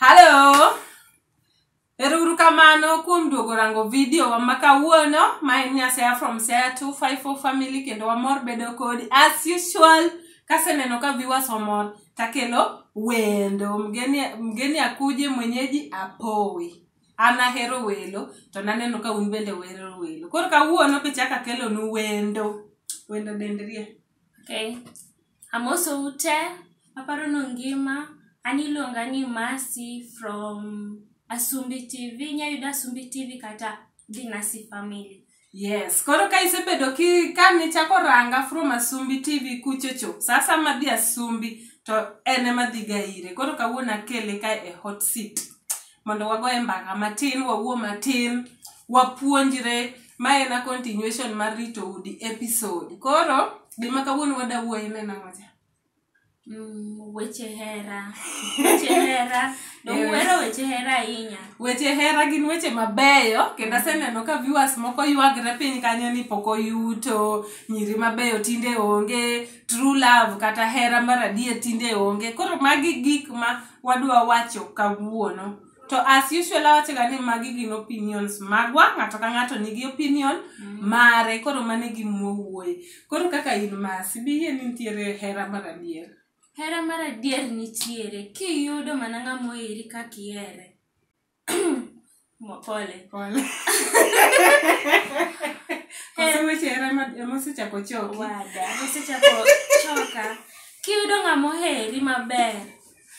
Hello. Eruru kamano kuom duogo rango video wa ma kawuono ma en Nyasea from Sea 254 family kendo wamor bedo kodi as usual kaseneno ka viewers omor takelo wendo mgeni, mgeni akuje mwenyeji apowi an ahero welo to naneno ka un bende wero welo koro kawuono pichaka kelonu wendo wendo dendrie Okay. Amosou te, aparo ni ungima. An iluonga ni Mercy from Asumbi TV. Inyalo yuda Asumbi TV kata Dinasi Family. Yes, koro ka isebedo ki ka nichako ranga from Asumbi TV kuchocho, sasa madhi Asumbi to en ema dhiga ire. Koro kawuono akele ka e hot seat. mondo wagoye mbaka matin wawuo matin wapuonjre ma en a continuation mar rito udi episode koro gima kawuono wadawuoye ne nang'ocha Mm, weche hera weche hera nomuhero weche hera ahinya weche hera gin weche mabeyo kendo aseneno ka viewers moko ywagre piny kanyo ni pok oyuto nyiri mabeyo tinde onge true love kata hera mar adier tinde onge koro magi gik ma wadwa wacho kawuono to as usual awachoga ni magi gin opinions magwa ng'ato ka ng'ato nigi opinion mare koro mane gimowuoye koro kaka in masi biyie ni nitiere hera mar adier hera mar adier nitiere kiyudo mana ng'ama oheri kaka ihere Mo- pole Pole. Koso weche hera ema- ema osechako choki. wada osechako choka kiyudo ng'ama oheri maber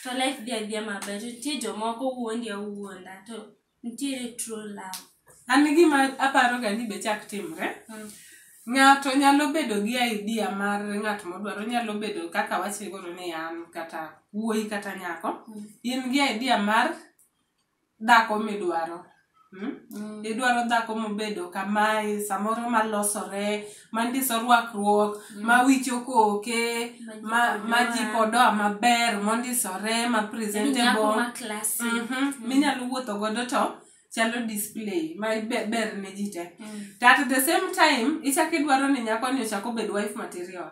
to life dhi adhiya maber to nitie jomoko wuondi awuonda to nitiere true love An gima aparoga ni be chak timre. Mm. Ng'ato nyalo bedo gi idea mar ng'at modwaro, nyalo bedo kaka wachiegoro ni an kata wuoyi kata nyako. Mm. In gi idea mar dhako midwaro Hmm? Mm. idwaro dhako mobedo kamae samoro malosore mandiso rwakruok mm. mawicho koke maji podoa maber mondisore ma presentable mm -hmm. minyalo wuotho godo to chalo display ma ber ne ji te mm. to at the same time ichako idwaro ni nyakoni ochako bed wife material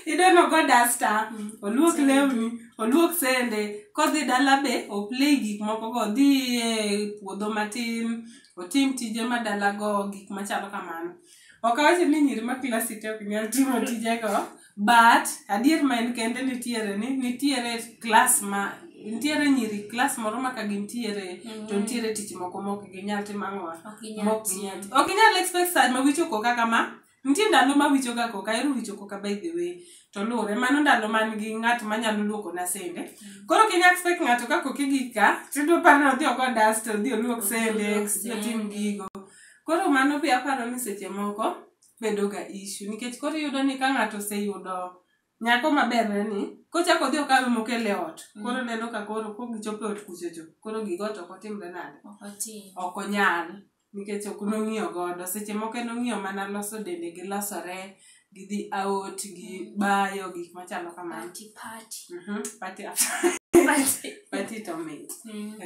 ideno go dasta mm. oluok lewni oluok sende kodhi dala be oplay gik moko go dhi e puodho matin otim tije ma dala go gik machalo kamano ok awacho ni nyiri ma klasite ok nyal timo tije go but adier ma en kende nitiere ni nitiere klas ma nitiere nyiri klas moro ma ka gintiere mm. to nitiere tich moko mok ginyal timo ang'owa mok ginyal ok inyal expect saj ma wichoko kaka ma Nitie ndalo ma wicho ga koka, ero wicho koka by the way. To lure, mano ndalo man gi ng'at ma nyalo luoko na sende. Mm. Koro kinya expect ng'ato ka koki gi ka, tido par no dhi ogo dust, dhi oluok sende, dhi tim gigo. Koro mano be aparo ni seche moko bedo ga issue. Nikech koro iyudo ni ka ng'ato oseyudo Nyako maber ne ni kochako odhi okawe mokel e ot mm. koro neno ka koro ko gichopo e ot kuchocho koro gigo to ok otimre nade ok onyal nikech ok nong'iyo godo seche moko en ong'iyo mana loso dende gi losore gi dhi out gi mm. bayo gik machalo kamano mhm, to mit mm.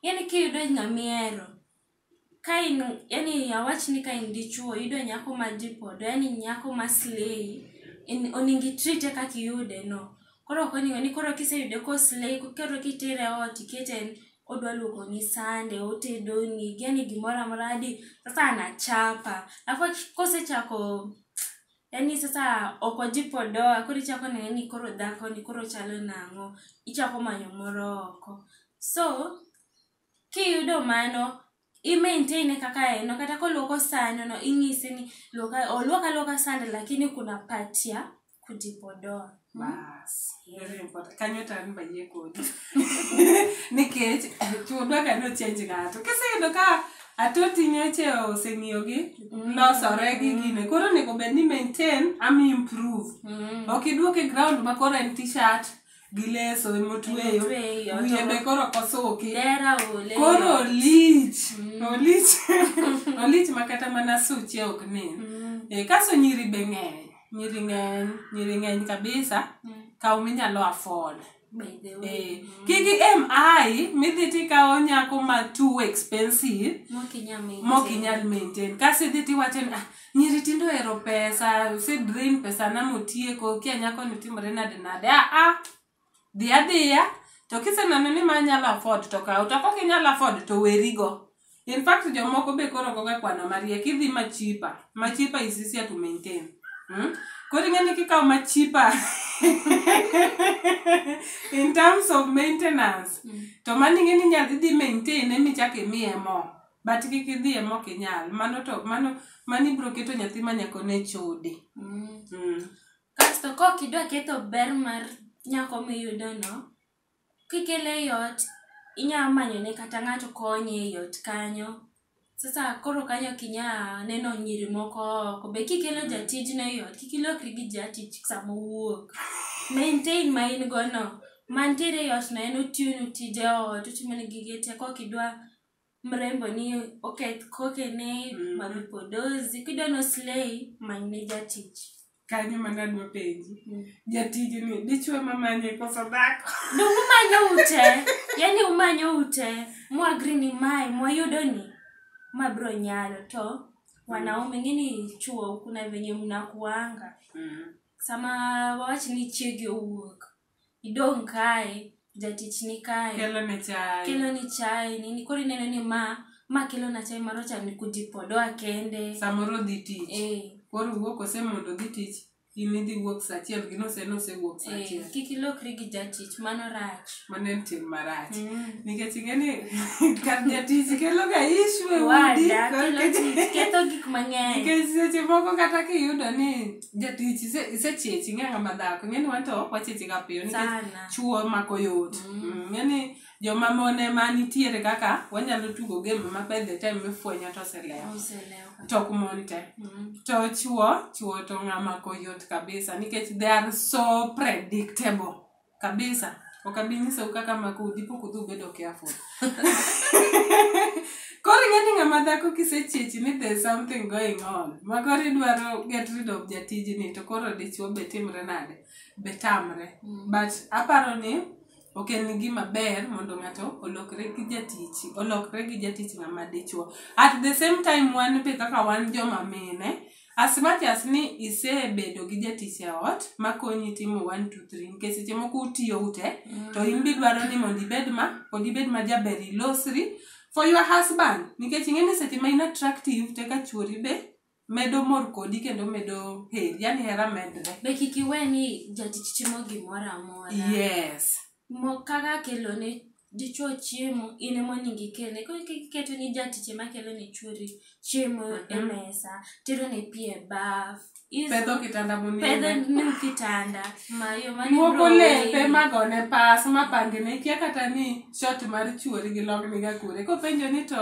yani kiyudo ng'amihero Ka in yani awach ni ka in dichuo yudo nyako ma jipodo yani nyako ma slay in oningi treat e kaka iyude no. Koro ok oningo ni koro kiseyude ko slay koro kitere ot ikete en odwa luoko ni sande, otedoni, yani gimoro amora hadi sasa anachapa. Alafu aki- kosechako yani sasa ok ojipodoa koro ichako nene ni koro dhako ni koro chalo nang'o. Ichako manyo moro oko. So kiyudo mano i maintain e kaka en no kata koluoko sano no ing'ise ni luoka oluoka luoka sande lakini kuna patia kujipodoa Bas, very important. Kanyo to an bayie kodi. Nikech chuodwa ka nochenj ng'ato. Kiseyudo ka atoti nyoche oseng'iyogi, losore gi gine. Koro onego bed ni maintain am improve. Ok iduok e ground ma koro en t-shirt, gi leso emotweyo Emotweyo, wiye to- be koro kosuki dera ole koro olich olich olich ma kata mana suche ok nen Mm, Eh, kaso nyiri be ng'eny nyiri ng'eny nyiri ng'eny kabisa mm, kaw minyalo afford by the Eh, way kik em ai midhi tikawo nyako ma too expensive mokinyamini mok inyal maintain kasi idhi tiwacho ni ah nyiri tindo ohero pesa use drain pesa na motieko kia nyako ni timore nade nade a a dhi adhiya to kiseneno ni ma nyalo afford to kaw to kok inyalo afford to werigo in fact jomoko be koro goga kwano mariek idhi machipa machipa is easier to maintain hmm? koro ing'eni kikaw machipa in terms of maintenance to mano ing'eni inyalo idhi maintain emichak imiye mo but kik idhiye mok inyal mano to mano mano ibiro keto nyathi ma nyako ne chode Mm. mm. kasto kok idwa ketho ber mar nyako miyudono kikele e ot inyalo manyone kata ng'ato konye e ot kanyo sasa koro kanyo ok inyal neno nyiri moko oko be kikelo jatijno e ot kik ilokri gi jatich sama owuok maintain ma in gono mantiere e otno en otiyonu tije ot otimone gige te kok idwa mrembo ni oketh kokene Mm. mami podozi kidwa no slay manyne jatich kanyo mana adwa penji Mm. jatiji ni dichwe mamanye koso dhako donge umanyo ute yani umanyo ute mwagri ni mae mwayudo ni ma bro nyalo to wanaume ngini chuo kuna venye mnakuanga sama wawach ni chiegi owuok idong' kae jatich ni kae kelo ne chai kelo ni chai nini koro ineno ni ma ma kelo na chai maro cha ni kujipodoa kende samoro odhi tich eh koro wuok ose mondo odhi tich in idhi wuok saa achiel gino ose nosewuok saa eh achiel kik ilokri gi jatich mano rach mano en tim marach Mm. nikech ing'e ni kar jatich kelo ga ishu e udi wada koro kelo tich ketho gik mang'eny nikech seche moko kata kiyudo ni jatich ise- isechechi ing'e ng'ama dhako ing'eni wan to wachechi ga piyo nikech Sana. chuo mako yot Mm. Mm, ng'eni joma mon ema nitiere kaka wanyalo tugo game ma by the time mifwenyo to oselewo Oselewo. tok mon te Mm. to chuo chuo to ng'ama koyot kabisa nikech they are so predictable kabisa ok abi nyisou kaka mako udi pok udhi ubedo careful koro ing'e ni ng'ama dhako kisechiechi ni there's something going on ma koro idwaro get rid of jatijni to koro dichuo be timre nade be tamre but aparo ni ok en gima ber mondo ng'ato olokre gi jatich olokre gi jatich ng'ama dichuo at the same time wan be kaka wan joma mine As much as ni isebedo gi jatich e ot makonyi timo 1 2 3 nikech seche moko utiyo ute to in be idwaro ni mondo ibed ma pod ibed ma jaber ilosri for your husband nikech ing'e ni seche ma in attractive to eka chwori be medo mor kodi kendo medo heri yani hera medre Be kik iwe ni jatich timo gimoro amora. yes Mo- kaka kelo ne dichwo chiemo in ema onego ikele koro kik iketo ni jatich ema kelo ne chwori chiemo e Mhm. mesa tero ne pi e baf Is- pedho kitanda pedho monindo ne kitanda mayo mane luoko bro lepe weyi. magone pas mapange ne kia kata ni shot mar chuori gi longniga kure kopenjo ni to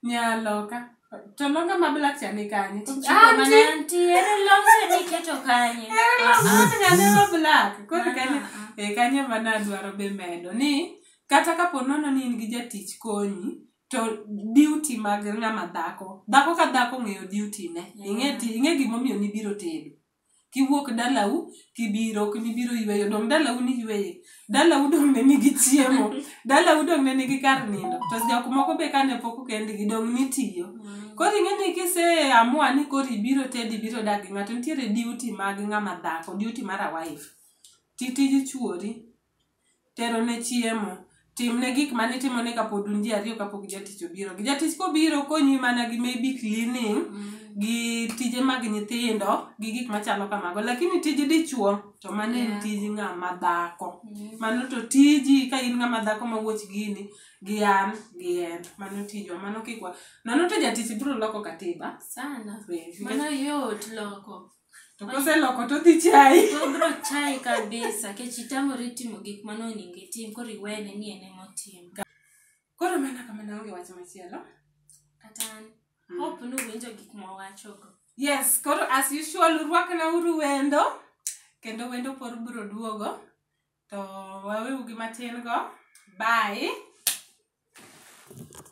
nyaloka To longa ma black cha ni kanye? Anti, anti, ere longa ni keto kanye? Ere longa ni kanye ma black? Koro kanye, e kanye ma na dwaro be medo ni kata ka po nono ni in gi jatich konyi to duty mag ng'ama dhako. Dhako ka dhako ng'eyo duty ne. Ing'e ti, ing'e gimomiyo nibiro tedo. kiwuok dalau kibiro ok nibiro yweyo dong dalau ni yweye dalau dong ne nigi chiemo dalau dong ne nigi kar nindo to jok moko be kane pok kendgi dong nitiyo mm. koro ing'e ni kise amua ni koro ibiro tedi ibiro dak gi ng'ato nitiere duty mag ng'ama dhako duty mar a wife ti tij chuori terone chiemo timne gik ma nitimone kapod un ji ariyo kapok jatich obiro gi jatich kobiro konyi mana gi maybe cleaning gi tije mag nyithindo gi gik machalo kamago lakini tij dichuo to mano en Yeah. tij ng'ama dhako mano to tiji ka in ng'ama dhako ma wuoch gini gi an gi en mano tijwa mano kikwa nano to jatich biro loko katiba sana Be- mano yot loko To koseloko to dhi chai. To bro chai kabisa kech itamori timo gik mane onego itim koro iwene ni en ema otimo. Koro mana kamano onge wach machielo. Kata an. Mm. Hope ni uwinjo gik ma wawachogo. Yes, koro as usual urwakna uru wendo kendo wendo por biro duogo to waweu gi matin go. Bye.